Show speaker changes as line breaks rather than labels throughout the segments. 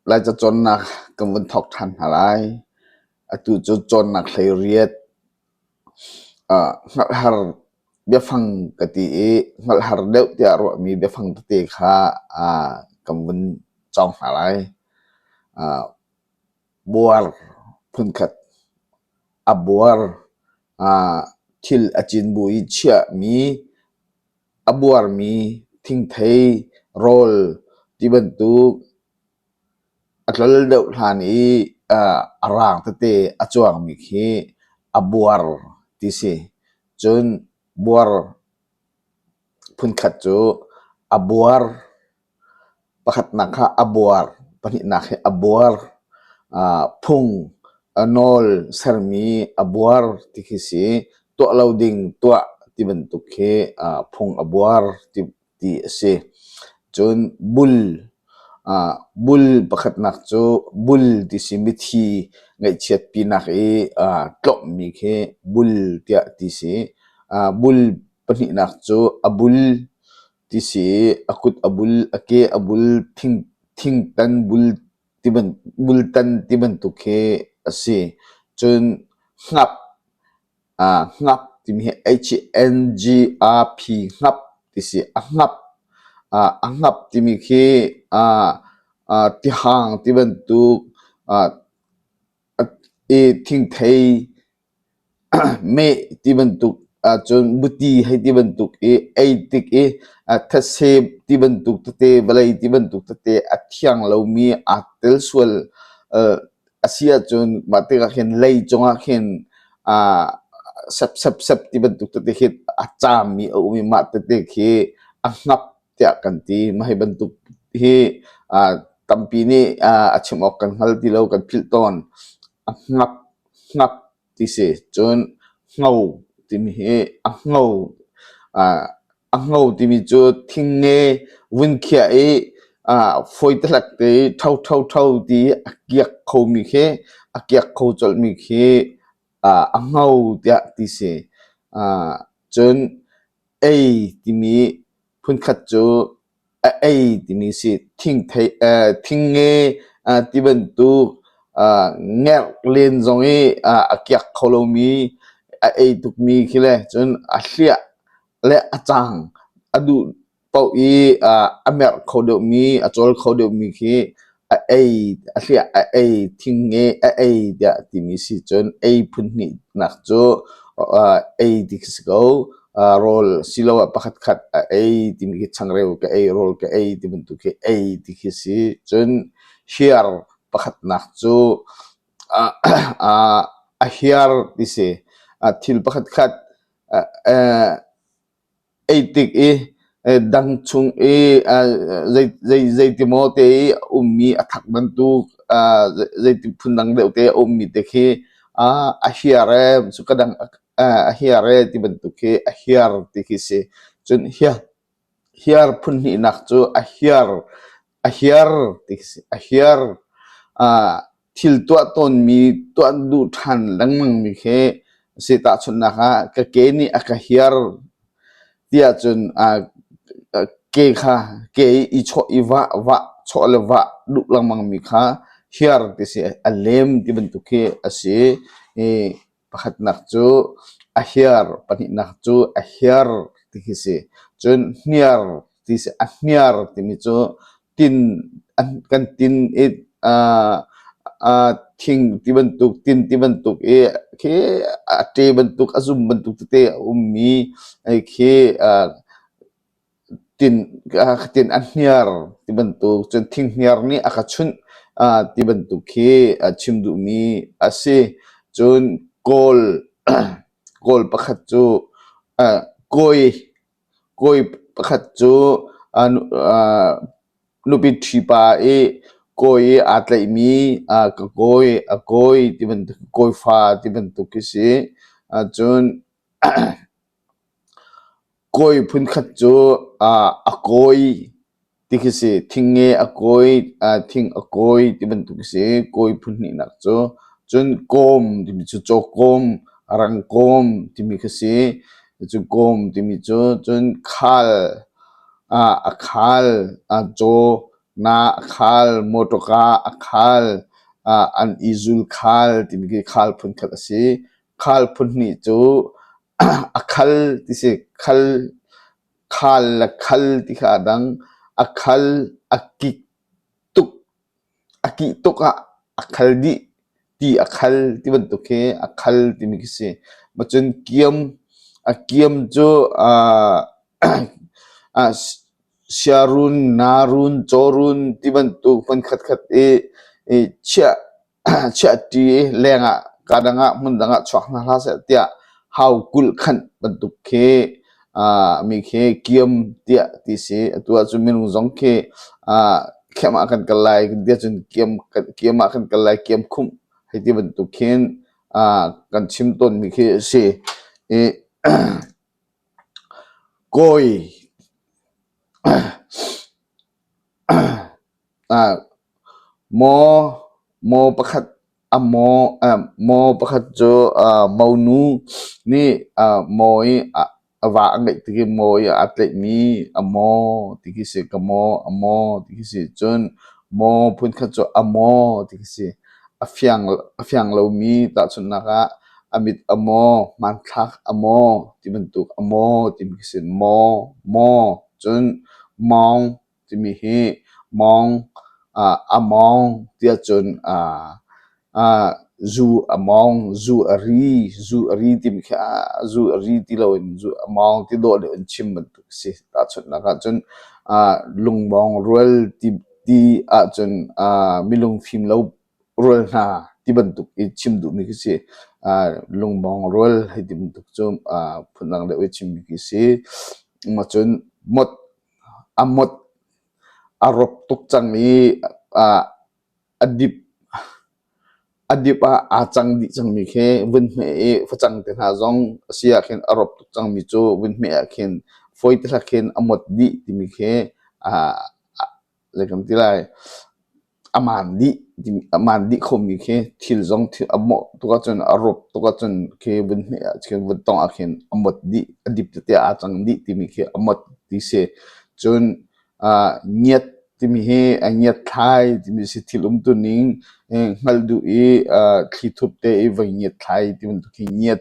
Laica cawnnak kan vun thawk ṭhan hna lai. Atu cu cawnnak hleiriat hngalhhar biafang ka ti i hngalhhar deuh tiah ruahmi biafang tete kha kan vun cawng hna lai. Buar phunkhat. A buar ah thil a cin bu i chiahmi, a buarmi thingthei, rawl ti bantuk a tlol deuh hlan i a raang tete a cuangmi khi a buar ti si. Cun buar phunkhat cu a buar. Pakhatnak kha a buar, pahnihnak hi a buar. Aa phung, a nawl sermi a buar ti khi si. Tuah lo ding tuah ti bantuk khi aa phung a buar ti, ti a si. Cun bul, aa bul pakhatnak cu bul ti si mithi ngaihchiatpinak i aa tlawmhmi khi bul tiah ti si. Aa bul pahnihnak cu a bul. Tisi, a kut a bul, a ke a bul, thingtan bul tibantuk ti bantuk hi a si. Cun hnap, hnap timi hi H-E-N-G-R-P hnap ti si. A hnap, a hnap timi khi tihang ti bantuk, thingthei Meh ti bantuk ahcun buti hei ti bantuk i ei tik i thetse ti bantuk tete vawlei ti bantuk tete a thiang lomi aa tel sual a si ahcun mah tikah khin lei cungah khin sepsepsep ti bantuk tete khi a caami a um i mah tete khi a ngap tiah kan ti. Mah hi bantuk hi tampi nih a chim awk kan hngal ti lo, kan philh tawn. A ngap Hngat ti si cun ngo timi hi a ngo a ngo timi cu thingnge vun khiah i fawi tehlek te i tho tho tho ti a kiak khomi khi a kiak kho colhmi khi a ngo tiah ti si. Cun ei timi Phunkhat cu a ei timi si. Thingthei eh thingnge ah ti bantuk ah ngerh len zong i a kiak kho lomi a ei tukmi khi le cun a hliah le a cang a duh paoh i a merh kho deuhmi a cawl kho deuhmi khi A ei, a hliah a ei, thingnge a ei tiah a timi si cun ei phun hnihnak cu ei dik a si ko. rawl siloah pakhatkhat a ei timi khi changreu ka ei, rawl ka ei ti bantuk khi ei ti khi si. Cun hiar pakhatnak cu a hiar ti si. Thil pakhatkhat Eitik i dang chung i zeiti maw te i a ummi a thak bantuk zeiti phundang deuh te a ummi te khi a hiar ee cu ka dang a hiar ee ti bantuk hi a hiar ti khi si. Cun hiar phunhnihnak cu a hiar ti khi si. A hiar. thil tuah tawnmi tuah duh ṭhan lengmangmi khi a si. Tahchunhnak ah, ka ke nih a ka hiar tiah cun aa ke kha ke i i chawh i vah vah chawh le vah duh lengmangmi kha hiar ti si a lem ti bantuk khi a si i Pakhatnak cu a hir, pahnihnak cu a hir ti hi si. Cun hniar ti si. A hniar timi cu tin kan tin i aa aa thing ti bantuk, tin ti bantuk i khi a ṭe bantuk, a zum bantuk tete a ummi khi aa Tin a hniar ti bantuk cun thinghniar nih a ka chunh ti bantuk khi chim duhmi a si. Cun kawl kawl pakhat cu kawi kawi pakhat cu nupi ṭhipa i kawi i aa tlaihmi ka kawi a kawi ti bantuk kawi fa ti bantuk khi si. Cun Kawi phunkhat cu a kawi ti khi si. Thingnge a kawi, thing a kawi ti bantuk khi si. Kawi phunhnihnak cu cun kawm timi cu cawkawm, rangkawm timi khi si. Cucu kawm timi cu cun khal, a khal, caw, na a khal, mawṭawka a khal, an i zul khal timi khi khal phunkhat a si. Khal phunhnih cu a khal ti si. Khal, khal le khal ti kha a dang. A khal, a kik tuk, a kih tuk ah a khal dih ti a khal ti bantuk hi a khal timi khi si. Macun kiam, a kiam cu aa aa siarun, narun, cawrun ti bantuk hmun khatkhat i, i chiah chiahṭi leng ah kadang ah hmundang ah chuak hna hlah seh tiah hau kulhkhanh bantuk khi ah mi khi kiam tiah ti si atu ahcun minung zong khi ah khiam ah kan kal lai kan ti ahcun kiam kan kiam ah kan kal lai kiam khumh hei ti bantuk khin ah kan chim tawnmi khi a si i kawi Maw pakhat cu monu nih maw i a va a ngeih tik i maw i aa tleihmi a maw ti khi a si. Ka maw, a maw ti khi a si. Cun maw phunkhat cu a maw ti khi a si. A fiang lomi tahchunhnak ah a mit a maw, hmanthlak a maw ti bantuk a maw timi khi a si. Maw, maw cun maung. Timi hi mawng a mawng tiah cun zu a mawng, zu a ri, zu a ri timi khi zu a ri ti loin zu a mawng ti dawh le in chim bantuk a si. Tahchunhnak ahcun lungmawng rual ti ahcun milungfim lo rual hna ti bantuk i chim duhmi khi si. Lungmawng rual hei ti bantuk cu phundang deuh i chimmi khi si. Cun mawt A mawt a rawk tuk cang i a dip a dip ah aa cang dih cangmi khi vunhme i facang te hna zong a si ahkhin a rawp tuk cangmi cu vunhme ahkhin fawi te hlak khin a mawt dih timi khi zei kan ti lai, a maan dih, a maan dih khomi khi thil zong a mawh tuk ahcun, a rup tuk ahcun khi vun hme ah, vun tawngh ah khin a mawt dih, a dip tete aa cang dih timi khi a mawt ti si. Cun ngiat timi hi ngiatthlai timi si thil um tuning hngalh duh i thli thup te i voi ngiatthlai ti bantuk khi ngiat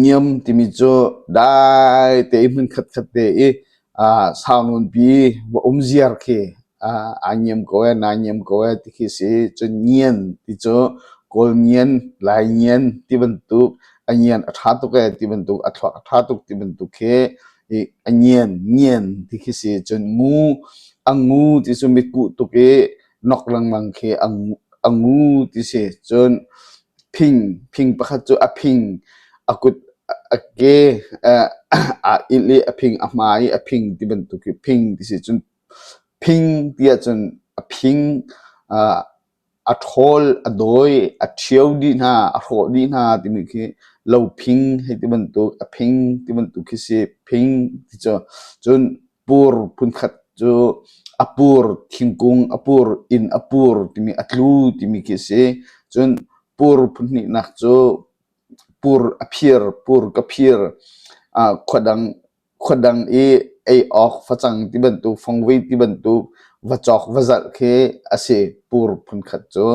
Ngiam timi cu dai tein hmun khatkhat te i aa saununpi va um ziar khi aa ngiam ko ee, naa ngiam ko ee ti khi a si. Cun ngian ti cu kawl ngian, lai ngian ti bantuk, a ngian a ṭha tuk ee ti bantuk, a thluak a ṭha tuk ti bantuk khi a ngian ngian ti khi si. Cun ngu, a ngu ti cu mitkuh tuk i nok lengmang khi a ngu ti si. Cun Phing phing pakhat cu a phing a kut a ke aa ilh i a phing a hma i a phing ti bantuk i phing ti si cun phing ti ahcun a phing a ṭhawl a dawi a ṭhio dih hna a hrawh dih hna timi khi lo phing hei ti bantuk a phing ti bantuk khi si phing ti cu cun pur phunkhat cu a pur thingkung a pur inn a pur timi a tlu timi khi a si cun pur phunhnihnak cu pur a phir pur ka phir ah khua dang khua dang i ei awk facang ti bantuk fongvei ti bantuk va cawk va zalh khi a si pur phunkhat cu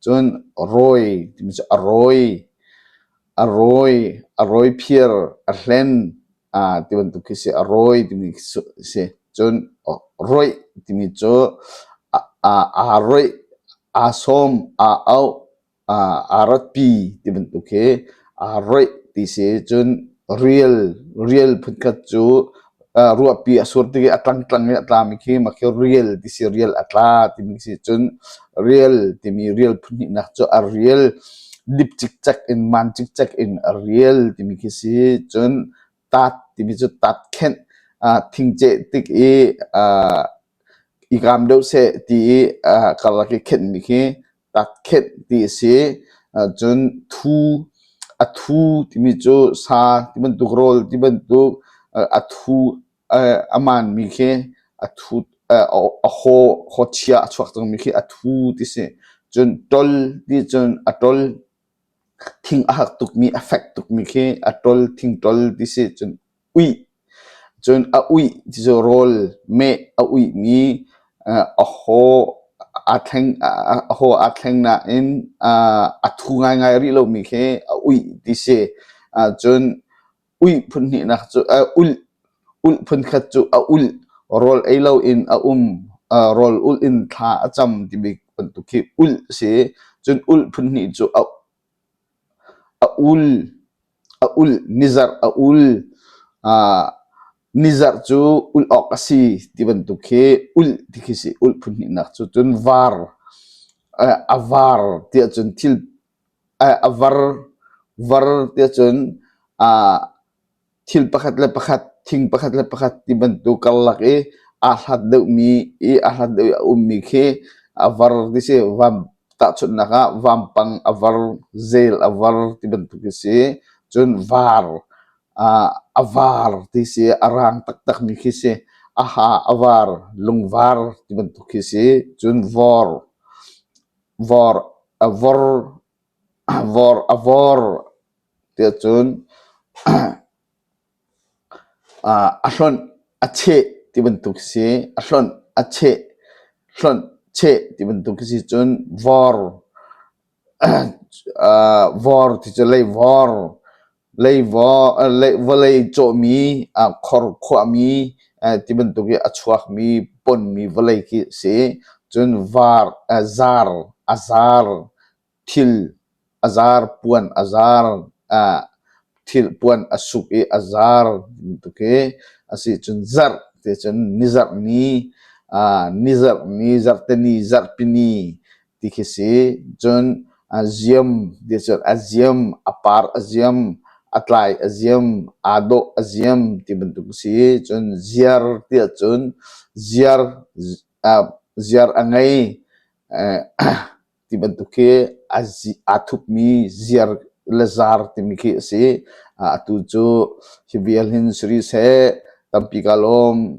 cun rawi timi cu a rawi a rawi a rawi phir a hlen aa ti bantuk khi si a rawi timi si cun roih timi cu aa roih aa sawm aa auh aa ratpi ti bantuk hi aa roih ti si cun rial rial phunkhat cu ruahpi a sur tik i a tlangtlang i a tlami khi mah khi rial ti si rial a tla timi si cun rial timi rial phuhnihnak cu a rial dip cikcek in man cikcek in a rial timi khi si cun tat timi cu tat khenh thingceh tik i i kam deuh seh ti i karlak i khenhmi khi tat khenh ti a si cun thu a thu timi cu sa ti bantuk rawl ti bantuk a thu a maanmi khi a thu a haw chia a chuak cangmi khi a thu ti si. Cun ṭol nih cun a ṭol thing a hak tukmi, a fek tukmi khi a ṭol thingṭol ti si. Cun uih, cun a uih ti cu rawl meh a uihmi a haw aa thleng a haw aa thleng nain a thu ngaingai rih lomi khi a uih ti si. Cun Ulh phunkhat cu a ulh, rawl ei loin a um, rawl ulh in thla a cam timi bantuk khi ulh a si. Cun ulh phunhnih cu a ul, a ulh, nizarh a ul. Nizarh cu ulh awk a si ti bantuk khi ulh ti khi si. Ulh phunhnihnak cu cun var, a var ti ahcun thil A var tiah cun thil pakhat le pakhat, thing pakhat le pakhat ti bantuk karlak i aa hlat deuhmi i aa hlat deuh i a ummi khi a var ti si. Tahchunhnak ah vampang a var, zel a var ti bantuk hi si. Cun var, a var ti si, a rang taktakmi khi si. A ha, a var, lungvar ti bantuk khi si. Cun vor. A vawr tiah cun a hlonh, a cheh ti bantuk si. A hlonh, a cheh, hlonh, cheh ti bantuk si cun vawr, vawr ti cu leivawr. Vawlei cawhmi, khor khuahmi ti bantuk i a chuakmi ponmi vawlei khi a si. Cun var, zar, a zar, thil a zar, puan a zar, thil puan a suk i a zar bantuk hi a si. Cun zarh ti cun nizarhni, nizarhni, zarhteni, zarhpini ti khi si. Cun a ziam cun a ziam, a par a ziam, a tlai a ziam, aa dawh a ziam ti bantuk si. Cun ziar ti ahcun ziar ziar a ngei ti bantuk khi aa thupmi ziar le zaar timi khi a si. Atu cu hi vial hin suri seh, tampi ka lawm.